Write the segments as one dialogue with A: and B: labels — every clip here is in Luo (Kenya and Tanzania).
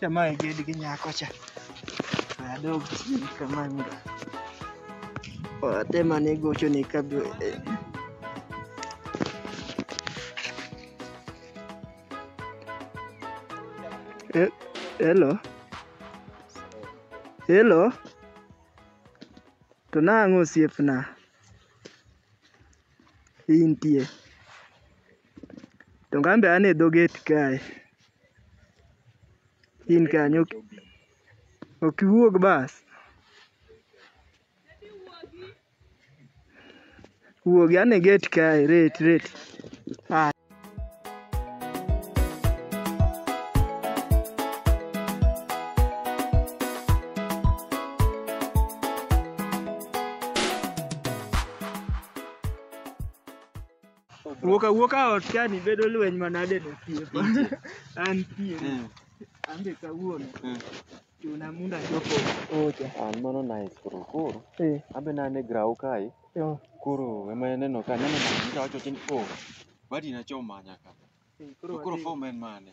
A: Chama e gedi gi nyako cha. Adog chini kama ndo. Watema ni gocho ni kabla. He- Hello. Hello. To nang'o osiepna? Intie. To ngambe an e dho gate kae. In kanyo ok iwuog bas. Wuogi ane e gate kae ret ret. Wuok awuoka ot kani bedo lweny manade no thieth. An thieth. Mm. An be kawuono. Mm. Chuna munda chopo ocha. An mano nice koro koro. Eh. Abe na ne grau kai. Yo. Koro ema neno ka neno na ngira wacho tin ko. Badi na choma nyaka. To koro form en mane?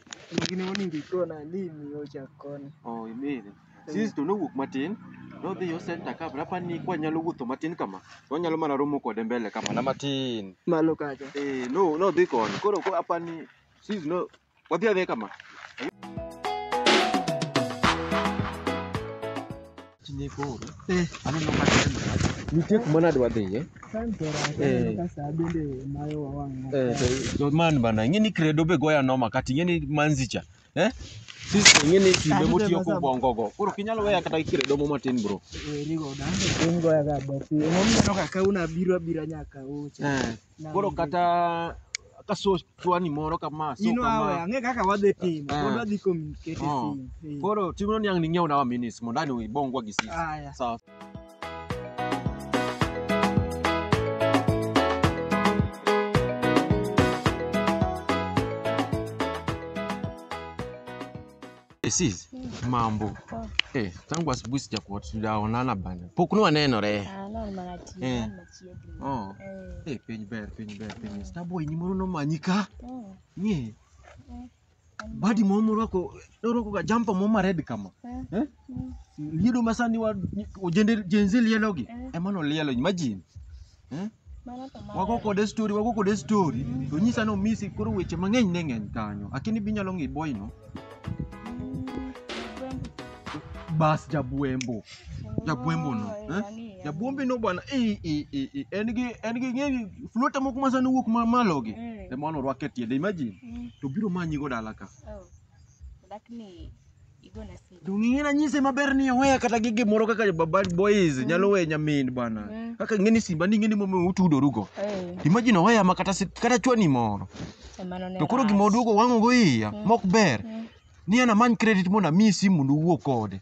A: Gini monego ikona ni imiyo ochak koni. Oh, imiri. Sis to nowuok matin, nodhi yo center ka rapa ni kwa nyalo wuotho matin kama. To onyalo mana romo kode mbele kama na matin. Malo kacha. Eh, no nodhi koni. Koro ko apa ni sis no wadhi adhi kama. Tine koro. Eh. Aneno ka tena. Nitie kuma nadwa dhiye. Eh. Eh, to- to man bana ing'e ni kredo be goya noma kata ing'e ni manzicha eh? Sisi ing'e ni kinde motiyo kobongo go koro ok inyal weya kata gi kredo mo matin bro Werigo dande. Ungoya ga bosi. Emomiyo no kaka unabiro abira nyaka ucha. eh. Koro kata ka so chwani moro kama so Ino awe, kama. ang'e kaka wadhi timo. Ah. Pod wadhi communicate Ah. sim. Eh. Koro timno ni ang' ning'iew na wa minis mondo ani ibongwa gi sisi. Aya. Sawa. Eh, sis, mambo. Poa. Eh, tangu asubuhi sijakuwa tujaonana bana. Pokunua neno re. Ah, no, nimanatia, Eh. nimechiegni. Oh. Eh. Eh, piny ber, piny ber, piny ber. Starboy ni moro nomanyika. Mm. Nye. Mm. Badi moro moro ako doro ko jampa moro ma red kama. Mm. Eh? Mm. Liedo masani wa ojende jenzi lielogi. Mm. Emano lielo imagine. Eh? Mano to mano. Wago kode story, wago kode story. To nyisa no misi koro weche mang'eny ne ng'eny kanyo. Akini binyalo ng'i boy no. Bas jabwembo. Jabwembo no. Eh? Jabwembo no bwana. Eh eh eh eh. En gi en gi ng'e flota moko ma sani wuok ma malo gi. Ema no rwake tiende imagine. To biro manyi go dala ka. lakini igona si Dung'e na nyise maber ni oweya kata gi gimoro kaka baba boys nyalo weyo nyamin bana. Mm. Kaka ngeni simba ni ngeni momo utudoru go. eh Imagine oweya ma kata si- kata chwani moro. emano ne To koro gima rach. oduogo wang'o go iya mok ber. Mm. Ni ana many credit mondo amiyi simu mondo uwuo kode.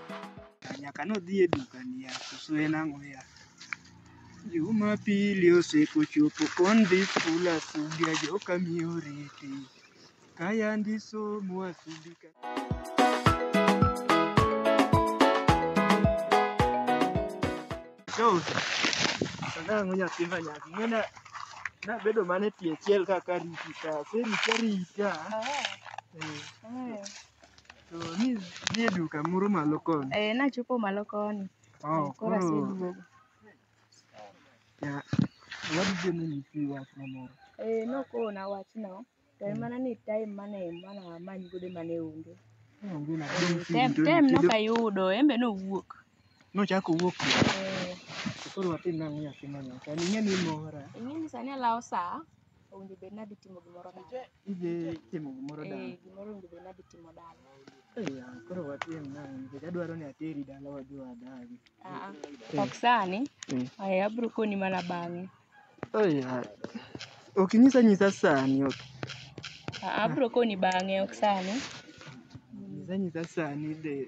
A: Nyaka nodhi e duka niya, koso en ang'o ya? Jumapili osekochopo kon dhi skul asubi ajoka miyo riti. Kaya ndi somo asubi ka. So, sana ang'o nyathi ma nyaki. Ng'ena nabedo mana e tie chiel kaka riti ka. Aserita rita. Eh. To ni nie duka moro malo koni. Eh, nachopo malo koni. Oh, Koro koro aseduogo. ya wadhi dhi ni nyisi wach na moro. Eh, nokona wachno. To en mana ni time mane mana amany godo mane onge. Onge na Eh, tem tem nokayudo, en be nowuok. Nochako wuok kuno. Eh, To koro watim nang'o nyathi manyocha. Ning'e ni mora. ing'e ni sani alawo saa, owinjo bed nadhi timo gimoro dala. Idhi timo gimoro dala. Eh, gimoro onego bed ni adhi timo dala. Eh, ya, koro watim nang'o nikech adwaro ni ateri dala wadhi wadagi. Ah, ah. ok sani. Mm. Aya, abiro koni mana bang'e. Eh, ya. Ok inyisa nyisa sani, ok. Ah, ah, abiro koni bang'e, ok sani. Inyisa nyisa sani de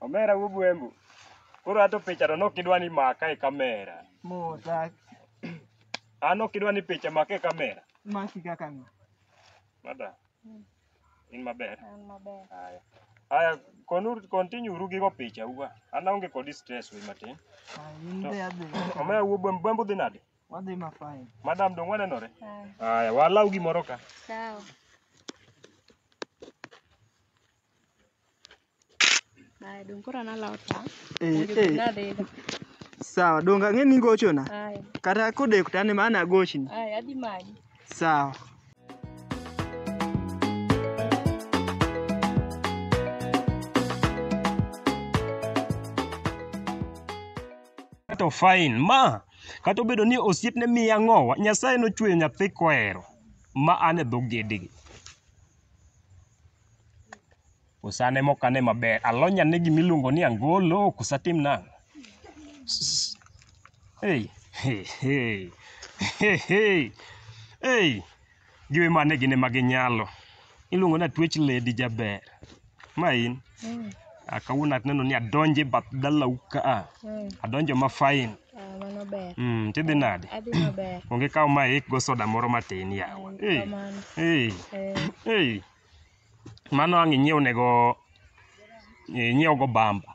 A: Omera wuo bwembo. Koro ato picha to nok idwa ni maka e kamera. Modak. An ok idwa ni picha maka e kamera. Maki kaka ng'a. Mada. In maber. An maber. Haya. Haya, konu continue uru gigo picha uwa. An aonge kod stress we matin. Ah, in To- be adhi. Omera wuo bwembo bwembo dhi nade? Wadhi ma fine. Madam dong wanenore. Haya, walau gimoro ka. Sawa. Haya, dong koro nalawo ta. Eh, Mondo eh. nadhiga. Sawa, donga ng'e ni gochona. Haya, Kata kodeko tane mana agochni. haya adhi manyi. Sawa. To fine. Ma, Kata obedo ni osiepne miya ng'owa, Nyasaye nochweyo nyathi kohero ma an e dho gedegi. Osane mok ane maber, alony ane gima iluongo ni angolo, ok osatim nang'o. S- Hey, hey, hey, hey, hey, hey. Giwe mane gin ema ginyalo. Iluongo ni atwech lady jaber. Ma in? Mm. Ah, kawuono aneno ni adonjo e bath dalau ka a. Mm. Adonjo ma fine. Ah, mano ber. Mm, tidhi nade? Adhi maber. Onge kaw ma ik go soda moro matin yawa. Mm, Hey. kamano. Hey. Eh, Hey. Mano ang' inyiew nego inyiew go bamba.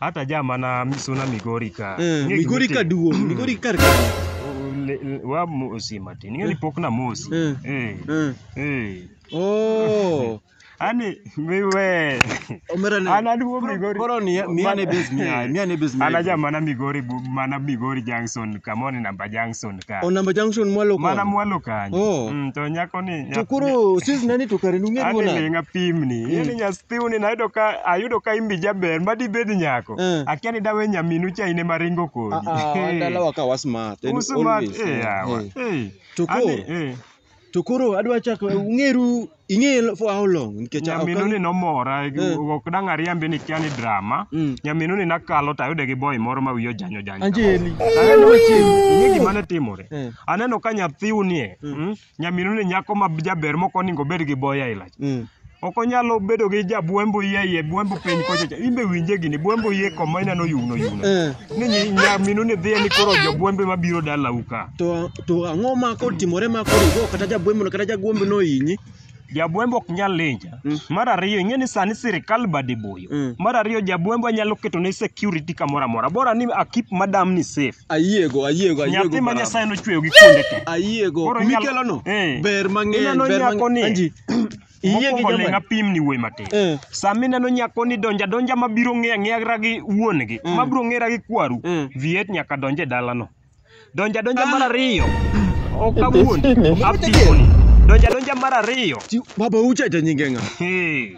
A: Hata ja mana misuna Migori ka. Eh, Ing'e Migori gimiti- ka duong', Mm. Migori kar kanyo. Le- le- Wa mosi matin. Ing'e ni pok na mosi. Eh. Eh. Eh. Eh. Oh. Ani miwe. Omera ne. Ana duo Migori. Koro ni miane base miya, miane base miya. Ana ja mana Migori bu- mana Migori Junction, Kamoni namba Junction. ka. Onamba Junction mwalo kwa. Mana mwalo kanyo. Oh. Mm, to nyako ni To koro sis nani to kare nung'e Ani duona. linga pimni. Mm. Ni nyasthiuni nayudo ka ayudo ka imbi jaber ma dibed nyako. Eh. Akia ni dawe nyaminu cha ine maringo kodi. Ah ah, dalawa ka wasmart. and Usu mat always. eh yawa. Eh. Eh. To Ani koro eh. To koro adwa chako ung'eru ing'e for how long nikech ok Nyaminu ni nomora Eh. ok dang' ariambi ni kia ni drama. Mm. Nyaminu ni nakalo to ayude gi boy moro ma wiye ojanyo janyo. Anjeli. Aneno wacheni, ing'e gima ne timore. Eh. Aneno ka nyathiu nie. Mm. Nyaminu ni nyako ma jaber moko oningo obed gi boy aila. Mm. Ok onyalo bedo gi ja bwembo yie yie bwembo piny kocha cha. Imbe winje gini bwembo yie koma inano yugno yugno. Eh, Ni nyi- nyaminu ni dhiye ni koro jo bwembe mabiro dalau ka. to to ang'o ma kotimore ma koro igo kata jabwembono kata jagwembo nohinyi Jabwembo ok nyal linja. Mm. Mar ariyo ing'e ni sani sirikal bade boyo. Mm. Mar ariyo jabwembo anyalo keto ne security kamoro amora. Bora ni a keep madam ni safe. ayiego ayiego ayiego Nyathi ma barabara. Nyasaye nochweyo gi kuonde te. ayiego Koro inyalo- mikelono Eh. ber mang'eny Ineno ber nyako ni- mang'eny Anji, Iyie gi Mokwongo ling' joma apim ni wuoyi matin. Eh. Sama ineno nyako ni donja donja ma biro ng'eya ng'era gi wuon gi, ma biro ng'era gi kwaru, Mm. viet nyaka donje dalano. Donja donja mar ariyo, ok awuon, apimoni. Donja donja mar ariyo, Baba ucha to nyinge ng'a? hey,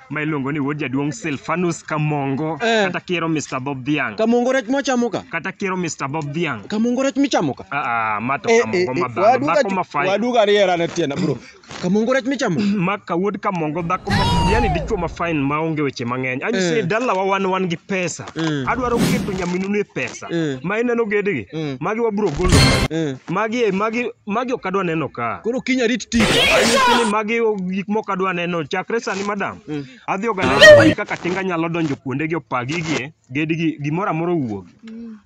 A: ma iluongo ni wuod jaduong' Silfanus Kamongo Eh. kata kiero Mr. Bob Dhiang' Kamongo rech mwachamo ka. kata kiero Mr. Bob Dhiang'. Kamongo rech michamo ka. Ah, ah, ma to Eh, eh, Kamongo eh, ma dhano, waduga dhako ju- ma fai. waduga ariera ne tienda bro. Kamongo rech michamo. Ma ka wuod Kamongo dhako ma yani dichwo ma fine ma onge weche mang'eny. Anyi Eh. se dalawa wan wan gi pesa. Mm. Adwaro keto nyaminuni e pesa. pasta Mm. ma ineno gedegi Mm. magi wabro golo Mm. magi magi magi ok adwa neno ka Koro kinya rit tich. Anyisi ni magi o- gik mok adwa neno chakre sani madam Mm. adhi oganeno kaka tinga nyalo donjo kuondegi opa gigie gedigi gimoro amoro owuog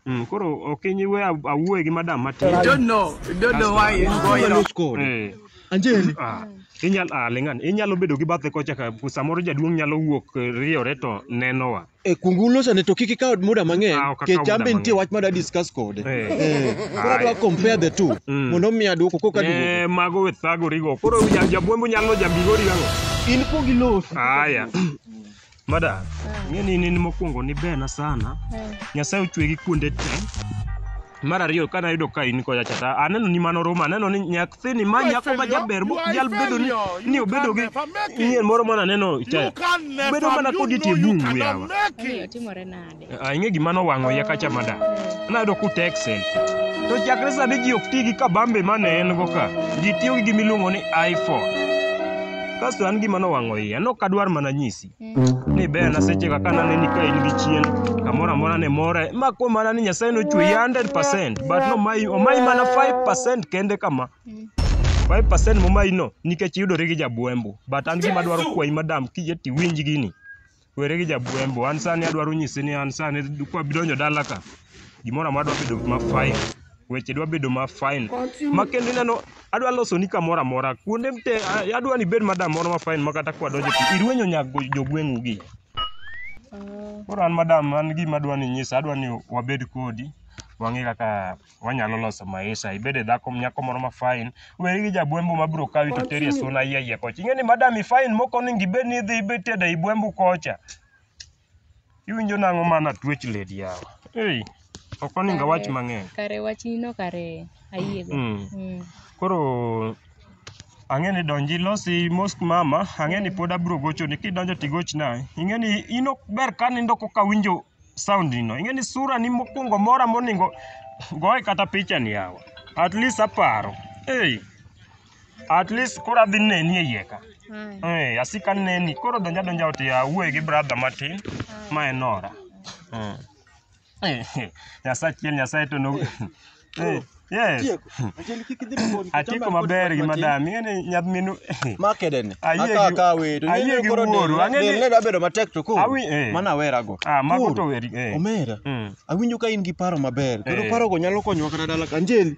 A: Mm, koro ok inyiwe awuoye gi madam matin You don't know. You don't know why it's going Mano on. score. Eh, Anjeli. ah, inyal ah, ling'an inyalo bedo gi bathe kocha ka samoro jaduong' nyalo wuok eh, riyore to nenowa Eh, kungulu sani to kik ikaw muda Ah, mang'eny ok akaw kech an be muda nitie mang'eny. wach mada discuss kode Eh. Eh, koro Aye. adwa compare the two Mm. mondo omiya dwoko koka duogo Eh, mago we thagorigo koro ja- jabwembo nyalo jabigori ang'o in pok ilos aya mada ng'eni in in mokwongo ni bena sana nyasaye ochwegi kuonde te Mar ariyo kane ayudo ka in kocha cha ta aneno ni mano ruma aneno ni nyathini ma nyako ma jaber mo jal bedo ni ni obedo gi nyien moro mana neno cha bedo mana kodi tie bungu yawa Omiyo timore nade? Ah, ing'e gima nowang'o iya kacha mada nayudo ku texel to chakre sani ji ok ti gi kabambe mane en go ka ji tiyo gi gimiluongo ni iphone kasto an gima nowang'o iya nokadwar mana nyisi ni bena seche kaka naneni ka in gi chien kamoro amora ne more ma kuom mana ni nyasaye nochweyi 100 but nomayi omayi mana 5 kende kama 5 momayi no nikech iyudori gi jabwembo but an gima dwaro kwayi madam kiyie tiwinj gini were gi jabwembo an sani adwaro nyisi ni an sani kwa bidonjo dala ka gimoro amora dwa bedo ma 5 weche dwa bedo ma fine ma kendo ineno adwa loso ni kamoro amora kuonde mte a- adwa ni bed madam moro ma fine ma kata kwa donjo pi irwenyo nyak go- jogweng'u gi koro an madam an gima adwa ni nyisa adwa ni wabed kodi wang'e kaka wanyalo loso maisha ibed e dhako nyako moro ma fine weri gi jabwembo ma bro kawi to teri e suna yie yie kocha ing'e ni madam i fine moko onego ibed ni idhi ibed tedo i bwembu kocha Iwinjo nang'o ma natwech ledi yawa? Ei, ok oningo awach mang'eny. Kare wachni no kare ayiego. Mm. Mm. Koro ang'e ni donji losi mos mama, ang'e ni pod abiro gochoni. Kidonjo tigochna. Ing'e ni in ok ber ka nindo koka awinjo sound ni no. Ing'e ni sura ni mokwongo mora moningo goye kata picha ni yawa. At least aparo. Ei. At least koro adhi neni e iye ka. Eh, asik aneni. Koro donja donja ot ya wuoye gi brother matin. Ma en ora. Mm. Eh, eh, Nyasaye achiel Nyasaye to no. Eh, Yes. Tieko. Achel kik idhi mabor. Atieko maber gi madam. Ing'eni nyadminu. Makedeni. Ayie gi- Aka ka wedo. ayie gi wuoru. Ang'e ni- Ang'e dabedo matek to koro. Awi- eh. Mana awerago. Ah, mago Koro, to weri. Eh. Omera. Mm. Awinjo ka in gi paro maber. Koro Eh. parogo nyalo konyowa kata dala ka Anjeli.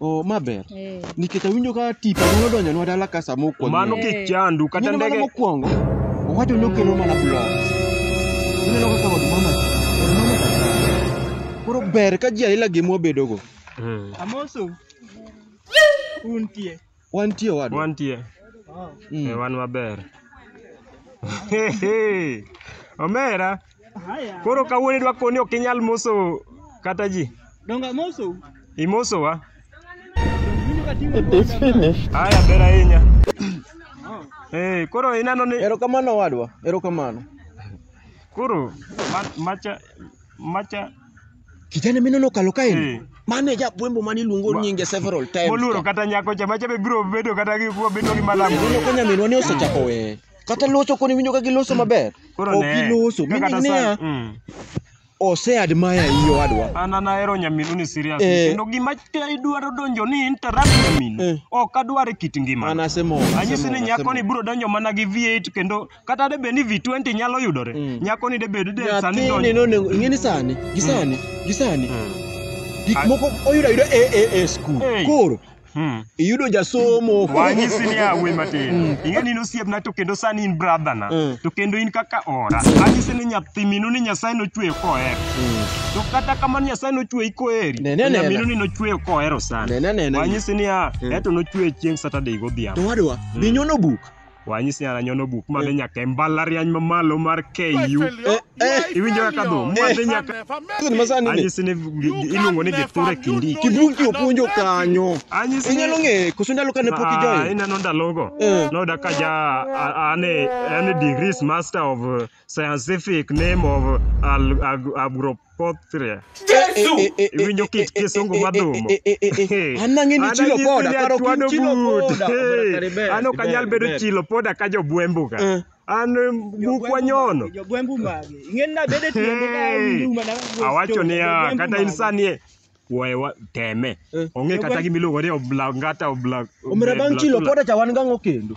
A: Oh, ma ber. Eh. Nikech awinjo ka tipo nyalo donjonwa dala ka sama okwonyo. Mano Eh. kik chandu kata Nyalo mana ndege mokwongo, owacho ni okelo mana blogs. Ineno kaka od mama, od mama kaka. Koro ber ka ji aila gima wabedogo. Mm. Amosu. Untie. Wantie owadwa. Wantie. Mm. Eh, wan maber. Omera. Koro kawuono idwa koni ok inyal moso kata ji. Donga moso. Imoso wa. It is finished. Haya ber ahinya. Eh, koro ineno ni Erokamano owadwa. Erokamano. Koro ma- macha Macha Kijana mineno kalo kae ni. Eh. Mane japwembo mane iluongo nyinge several times. moluoro kata nyako cha macha be biro bedo kata gi kuwa bedo gi malam. Ineno ka nyaminwa ni osechako we. Kata loso koni winjo ka giloso maber. Koro Ok ne. giloso. Ka kata Meaning niya, sa- Mm. ose admire iyi owadwa. An an ahero nyaminu ni serious. Eh. Kendo gima te idwaro donjo ni interrupt Eh. nyaminu. Ok adwar e kit ngima. An asemor. Anyisi ni asemor, nyako ni asemor. biro donjo mana gi V8 kendo kata de bed ni V20 nyalo yudore Mm. nyako ni de bed de sani nyathini donjo nonego ing'e ni sani gi sani gi sani Mm. gik Ah. moko oyudo ayuda e e e skul Hey. koro Mm. iyudo jasomo wanyisi ni awe matin ing'e ni in osiepna to kendo sani in brother na Mm. to kendo in kaka ora anyisi ni nyathi minu ni nyasaye nochweyo koher Mm. to kata kamano nyasaye nochweyi koheri Nene, to nyaminu nene. ni nochweyo kohero sana Nene, nene. wanyisi ni a Mm. eto nochweyo chieng' saturday godhiambo to wadwa Mm. binyono buk wanyisi ni ananyono buk madhi nyaka e mbalariany mamalo mar KU Eh, eh. iwinjo kaka dhum madhi nyaka Sasa ni masani ni. anyisi ni gi- iluongo ni githure kindi Kibuki opuonjo kanyo. anyisi ni Inyalo ng'e koso ndalo kane pok Ah, ijoin. ineno ndalogo Eh. noda ka ja a- ane ane degrees master of uh, Scientific name of al, ag, agropothria. Jesu! Eh, eh, eh, Iwinjo kit kisungu madhumo. An nang'e ni chilo pod, aparo ki Twado chilo but. pod. Hey, Kare ber, An ok anyal ber, bedo ber. chilo poda ka jobwembu ka. Eh. An bukwa nyono. Jogwembu mage. Ing'eni nabed e tiende ka en Hey, nduma na wuoch awacho chon, niya jogwembu kata in mage. sani e we wa- teme Eh. onge kata Jogwembu- gimiluongo ni oblangata obla Omera bang' chilo poda cha wan gang'o kendo?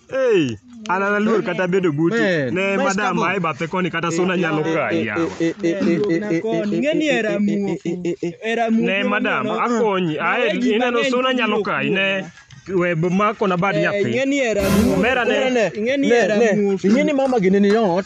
A: Ei, an an aluor kata bedo buti. Man. Ne Where's madam Kamo? ae bathe koni kata suna nyalo kayi yawa. Ng'eni era muofu. Era muofu. Ne madam akonyi ae ineno suna nyalo kayi ne we makona bad nyathi. Ng'eni era muofu. Omera ne. Ng'eni era muofu. ing'eni mama gini ni ot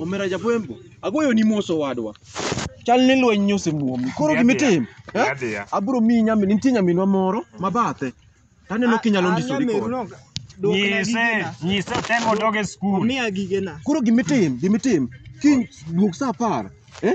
A: Omera Japwembo, agoyoni mos owadwa. Chal ni lweny osemuomi. Koro gimitimo, eh? Adhiya. Abiro miyi nyamin, nitie nyaminwa moro ma bathe. Taneno kinyalo ndisori kode. Nyise, nyise temo doge skul. Omiya gigena. Koro gimitim, gimitim. Kiny duog saa apar, eh?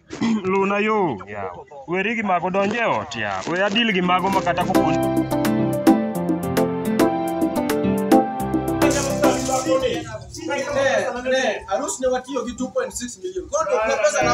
A: Luna yo yawa. Weri gi mago donj e ot yawa. We adil gi mago ma kata ko Arus ne watiyo gi 2.6 million. Koro to pesa na